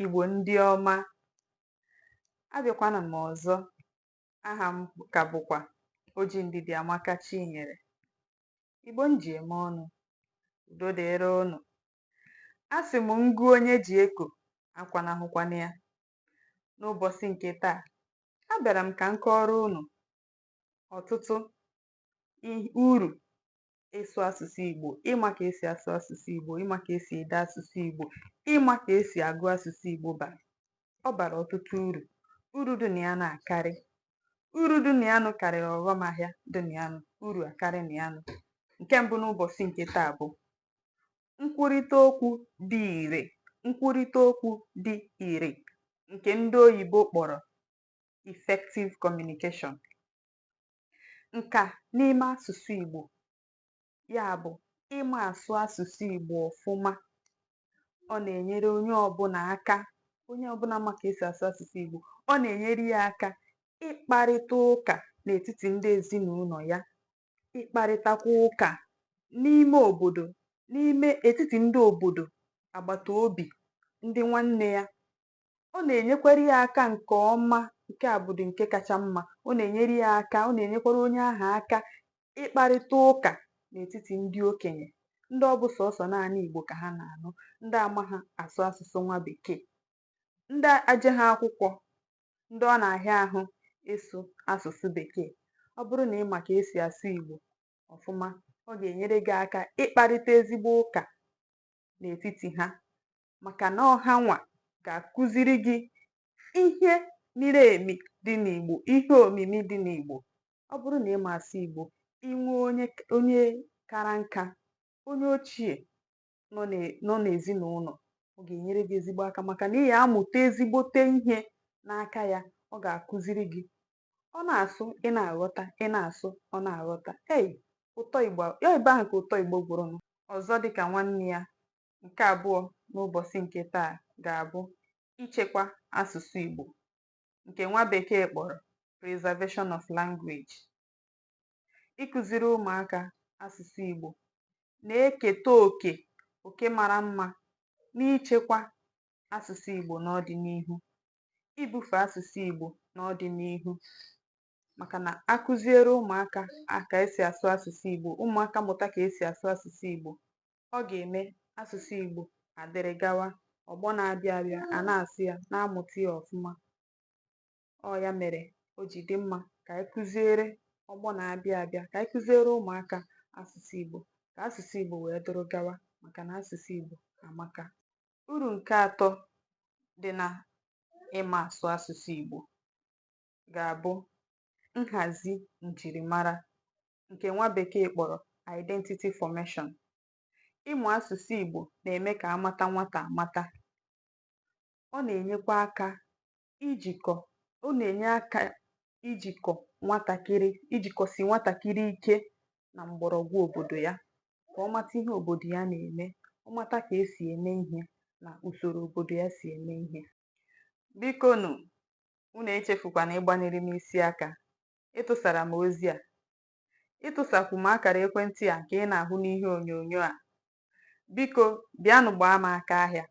Igbo ndị ọma, abịakwana m ọzọ. Aha m ka bụkwa Oji Ndidiamaka Chinyere. Igbo m ji eme ọnụ, udo dịrị ụnụ. A sị m ngụ onye ji eko akwanahụkwana ya. N'ụbọsị nke taa, abịara m ka m kọọrọ ụnụ ọtụtụ uru ịsụ asụsụ Igbo, ịma ka esi asụ asụsụ Igbo, ịma ka esi ede asụsụ Igbo, ịma ka esi agụ asụsụ Igbo bara. Ọ bara ọtụtụ uru. Uru dị na ya nụ akarị. Uru dị na ya nụ karịrị ọghọm ahịa dị na ya nụ, uru akarị na ya nụ. Nke mbụ n'ụbọsị nke taa bụ nkwurịta okwu dị ire, nkwurịta okwu dị ire nke ndị oyibo kpọrọ effective communication. Nka n'ime asụsụ Igbo, ya bụ ịma asụ asụsụ Igbo ọfụma. Ọ na-enyere onye ọbụna aka onye ọbụna ma ka esi asụ asụsụ Igbo, ọ na-enyere ya aka ịkparịta ụka n'etiti ndị ezinụlọ ya, ịkparịtakwa ụka n'ime obodo, n'ime etiti ndị obodo, agbata obi, ndị nwanne ya, ọ na-enyekwara ya aka nke ọma nke a bụdị nke kacha mma ọ na-enyere ya aka ọ na-enyekwara onye ahụ aka ịkparịta ụka n'etiti ndị okenye ndị ọ bụ sọsọ naanị Igbo ka ha na-anụ ndị amaha asụ asụsụ nwa bekee ndị ajeha akwụkwọ ndị ọ na-ahịa ahụ ịsụ asụsụ bekee ọ bụrụ na ị ma ka esi asụ Igbo ọfụma ọ ga-enyere gị aka ịkparịta ezigbo ụka n'etiti ha maka na ọ hanwa ga-akụziri gị ihe miri emi dị n'Igbo, ihe omimi dị n'Igbo. Ọ bụrụ na ị ma asụ Igbo, i nwee onye k onye kara nka, onye ochie nọ n'e nọ n'ezinụlọ, ọ ga-enyere gị ezigbo aka maka na ị ga-amụta ezigbote ihe n'aka ya, ọ ga-akụziri gị. Ọ na-asụ, ị na-aghọta, ị na-asụ, ọ na-aghọta. Ei! Ụtọ Igbo a ọ ebe ahụ ka ụtọ Igbo gwụrụ nụ. Ọzọ dị ka nwanne ya nke abụọ n'ụbọsị nke taa ga-abụ ichekwa asụsụ Igbo nke nwa bekee kpọrọ preservation of language. Ịkụziri ụmụaka asụsụ Igbo na-eketa oke oke mara mma n'ichekwa asụsụ Igbo n'ọdịnihu, ibufe asụsụ Igbo n'ọdịnihu maka na a kụziere ụmụaka ka esi asụ asụsụ Igbo, ụmụaka mụta ka esi asụ asụsụ Igbo, ọ ga-eme asụsụ Igbo adịrị gawa ọgbọ na-abịa abịa a na-asụ ya na-amụta ya ọfụma ọ ya mere o ji dị mma ka anyị kụziere ọgbọ na-abịa abịa ka anyị kụziere ụmụaka asụsụ Igbo ka asụsụ Igbo wee dụrụ gawa maka na asụsụ Igbo amaka uru nke atọ dị na ịma asụ asụsụ Igbo ga-abụ nhazi njirimara nke nwa bekee kpọrọ identity formation. Ịmụ asụsụ Igbo na-eme ka a mata nwata amata. Ọ na-enyekwa aka ijikọ ọ na-enye aka ijikọ nwatakịrị ijikọsi nwatakịrị ike na mgbọrọgwụ obodo ya ka ọ mata ihe obodo ya na-eme, ọ mata ka e si eme ihe na usoro obodo ya si eme ihe. Bikonụ, Unu echefukwana ịgbanyere m isi aka. Ịtụsara m ozi a. Ịtụsakwu m akara ekwentị a nke ị na-ahụ n'ihe onyonyo a. Biko, bịanụ gbaa m aka ahịa.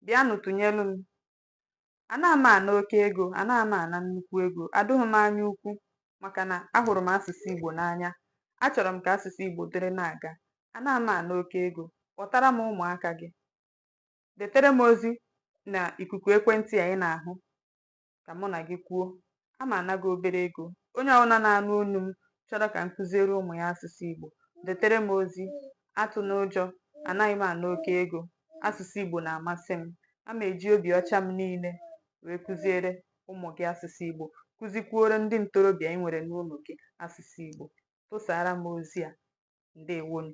Bịanụ tụnyelụ m. Anaghị m ana oke ego, anaghị m ana nnukwu ego, adụghị m anya ukwu maka na ahụrụ m asụsụ Igbo n'anya. Achọrọ m ka asụsụ Igbo dịrị na-aga. Anaghị m ana oke ego. Kpọtara m ụmụaka gị. detere m ozi na ikuku ekwentị a ị na-ahụ ka mụ na gị kwuo a ma ana gị obere ego onye ọbụla na-anụ onu m chọrọ ka m kụziere ụmụ ya asụsụ Igbo detere m ozi atụna ụjọ anaghị m ana oke ego asụsụ Igbo na-amasị m a ma eji obi ọcha m niile wee kụziere ụmụ gị asụsụ Igbo kụzikwuoro ndị ntorobịa ị nwere n'ụlọ gị asụsụ Igbo tụsara m ozi a ndewonụ